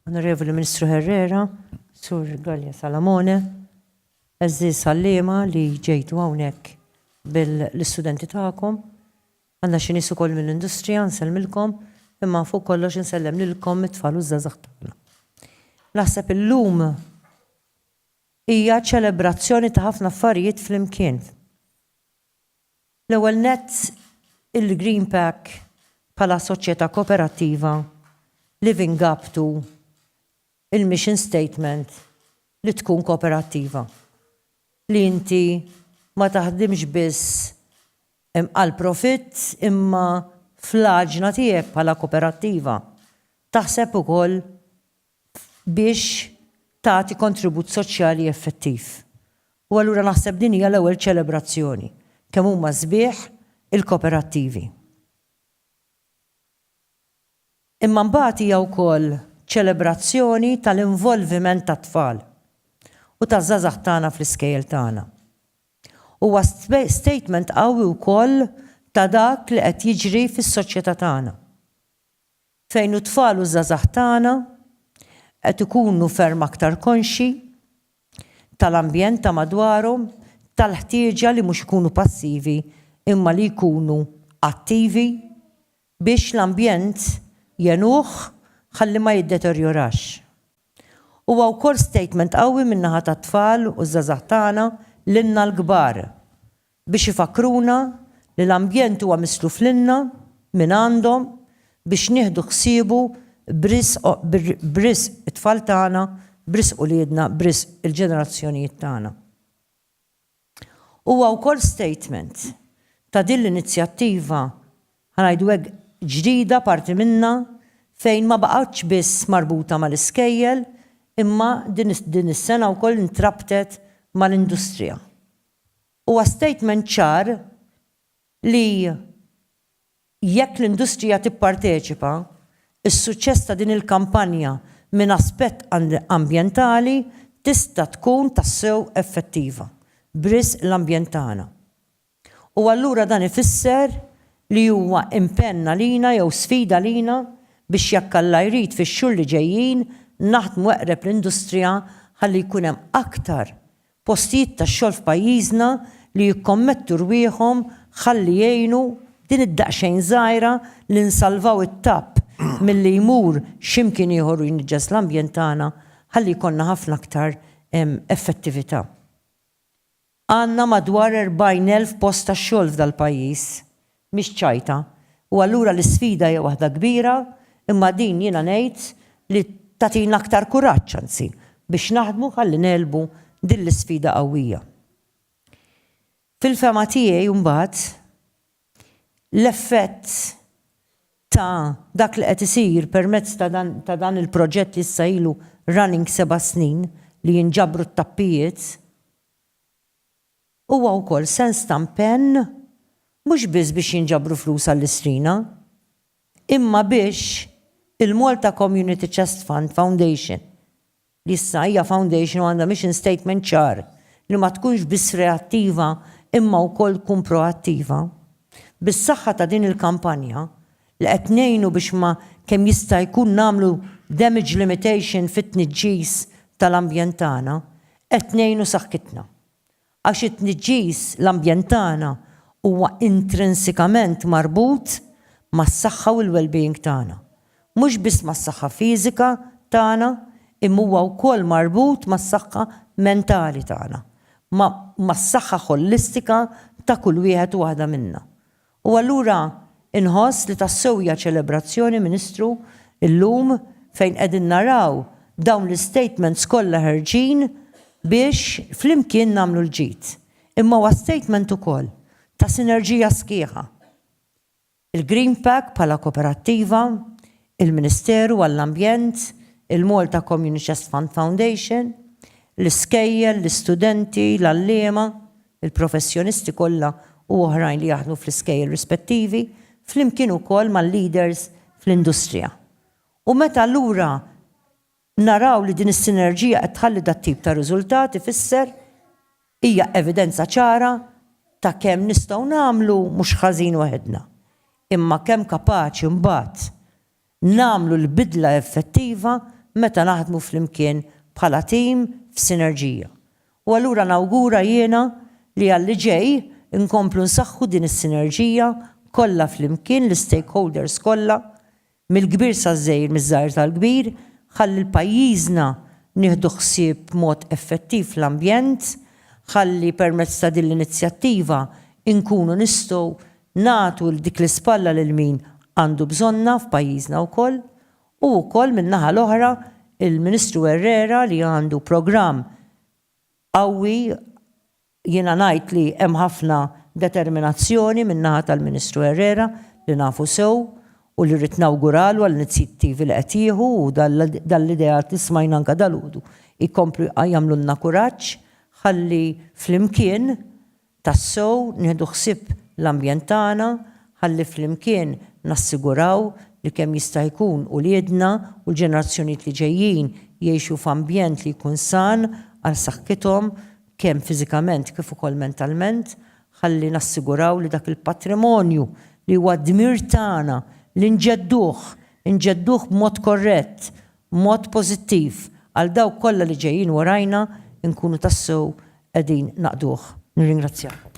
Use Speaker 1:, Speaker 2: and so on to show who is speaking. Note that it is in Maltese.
Speaker 1: Onorevoli Ministru Herrera, Sur Gallia Salamone, eżżiż għalliema li ġejtu hawnhekk bil-istudenti tagħkom, għandna xi nies ukoll mill-industrija nsellmilkom, imma fuq kollox insellem lilkom it-tfal u ż-żgħażagħ tagħna. Naħseb illum hija ċelebrazzjoni ta' ħafna affarijiet flimkien. L-ewwel nett, il-Greenpack bħala soċjetà kooperattiva Living Gap tu il-mission statement li tkun kooperattiva, li inti ma taħdimx biss għall-profitt imma fl-għaġna tiegħek bħala kooperattiva taħseb ukoll biex tagħti kontribut soċjali effettiv. U allura naħseb din hija l-ewwel ċelebrazzjoni kemm huma sbieħ il-koperattivi. Imma mbagħad hija wkoll ċelebrazzjoni tal-involviment tat-tfal u taż-żgħażagħ tagħna fl-iskejjel tagħna. Huwa statement qawwi wkoll ta' dak li qed jiġri fis-soċjetà tagħna. Fejn it-tfal u ż-żgħażagħ tagħna qed ikunu ferm aktar konxji tal-ambjent ta' madwarhom, tal-ħtieġa li mhux ikunu passivi imma li jkunu attivi biex l-ambjent jgħinuh ħalli ma jiddeterjorax. Huwa wkoll statement qawwi min-naħa tat-tfal u ż-żgħażagħ tagħna lilna l-kbar biex ifakkruna li l-ambjent huwa misluf lilna mingħandhom biex nieħdu ħsiebu b'risq it-tfal tagħna, b'risq uliedna, b'risq il-ġenerazzjonijiet tagħna. Huwa wkoll statement ta' din l-inizjattiva, ħa ngħidu hekk, ġdida parti minnha fejn ma baqgħetx biss marbuta mal-iskejjel imma din is-sena wkoll intrabtet mal-industrija. Huwa statement ċar li jekk l-industrija tipparteċipa, is-suċċess ta' din il-kampanja minn aspett ambjentali tista' tkun tassew effettiva, b'risq l-ambjent tagħna. U allura dan ifisser li huwa impenn għalina jew sfida għalina biex jekk Alla jrid fix-xhur li ġejjin naħdmu eqreb l-industrija ħalli jkun hemm aktar postijiet tax-xogħol f'pajjiżna li jikkommettu rwieħhom ħalli jgħinu b'din id-daqsxejn żgħira li nsalvaw it-tapp milli jmur x'imkien ieħor u jniġġes l-ambjent tagħna ħalli jkollna ħafna aktar effettività. Għandna madwar 40,000 post tax-xogħol f'dal-pajjiż mhix ċajta u allura l-isfida hija waħda kbira imma din jiena ngħid li tagħtina aktar kuraġġ anzi biex naħdmu ħalli negħlbu din l-isfida qawwija. Fil-fehma tiegħi mbagħad l-effett ta' dak li qed isir permezz ta' dan il-proġett li issa ilu running seba' snin li jinġabru t-tappijiet, Huwa wkoll sens ta' mpenn mhux biss biex jinġabru flus għall-Istrina, imma biex il-Malta Community Chest Fund Foundation, li issa hija foundation u għandha mission statement ċar li ma tkunx biss reattiva imma wkoll tkun proattiva, bis-saħħa ta' din il-kampanja, li qed ngħinu biex ma kemm jista' jkun nagħmlu damage limitation fit-tniġġis tal-ambjent tagħna, qed ngħinu saħħitna. Għax it-tniġġis l-ambjent tagħna huwa intrinsikament marbut mas-saħħa u l-wellbeing tagħna. Mhux biss mas-saħħa fiżika tagħna imma huwa wkoll marbut mas-saħħa mentali tagħna, ma' mas-saħħa ħollistika ta' kull wieħed u waħda minna. U allura inħoss li tassew hija ċelebrazzjoni, Ministru, illum fejn qegħdin naraw dawn l-istatements kollha ħerġin biex flimkien nagħmlu l-ġid. Imma huwa statement ukoll ta' sinerġija sħiħa. Il-Greenpack bħala koperattiva, il-Ministeru għall-Ambjent, il-Malta Community Chest Fund Foundation, l-iskejjel, l-istudenti, l-għalliema, il-professjonisti kollha u oħrajn li jaħdmu fl-iskejjel rispettivi, flimkien ukoll mal-leaders fl-industrija. U meta allura naraw li din is-sinerġija qed tħalli dat-tip ta' riżultat ifisser, hija evidenza ċara ta' kemm nistgħu nagħmlu mhux ħażin waħedna, imma kemm kapaċi mbagħad Nagħmlu l-bidla effettiva meta naħdmu flimkien bħala tim f'sinerġija. U allura nawgura jiena li għalli ġej inkomplu nsaħħu din is-sinerġija kollha flimkien l-istakeholders kollha, mill-kbir saż-żgħir miż-żgħir tal-kbir, ħalli l-pajjiżna nieħdu ħsieb b'mod effettiv l-ambjent, ħalli permezz ta' din l-inizjattiva inkunu nistgħu nagħtu dik l-ispalla lil min għandu bżonnha f'pajjiżna wkoll u wkoll min-naħa l-oħra il-Ministru Herrera li għandu programm qawwi jiena ngħid li hemm ħafna determinazzjoni min-naħa tal-Ministru Herrera li nafu sew u li rrid nawguralu għall-inizjittivi li qed jieħu u dan l-ideat li smajna anke dalgħodu jkomplu jagħmlulna kuraġġ ħalli flimkien tassew nieħdu ħsieb l-ambjent tagħna ħalli flimkien nassiguraw li kemm jista' jkun uliedna u l-ġenerazzjonijiet li ġejjin jgħixu f'ambjent li jkun san għal saħħithom kemm fiżikament kif ukoll mentalment, ħalli nassiguraw li dak il-patrimonju li huwa d-dmir tagħna li nġedduh, inġedduh b'mod korrett b'mod pożittiv għal dawk kollha li ġejjin warajna nkunu tassew qegħdin naqduh. Nirringrazzjakom.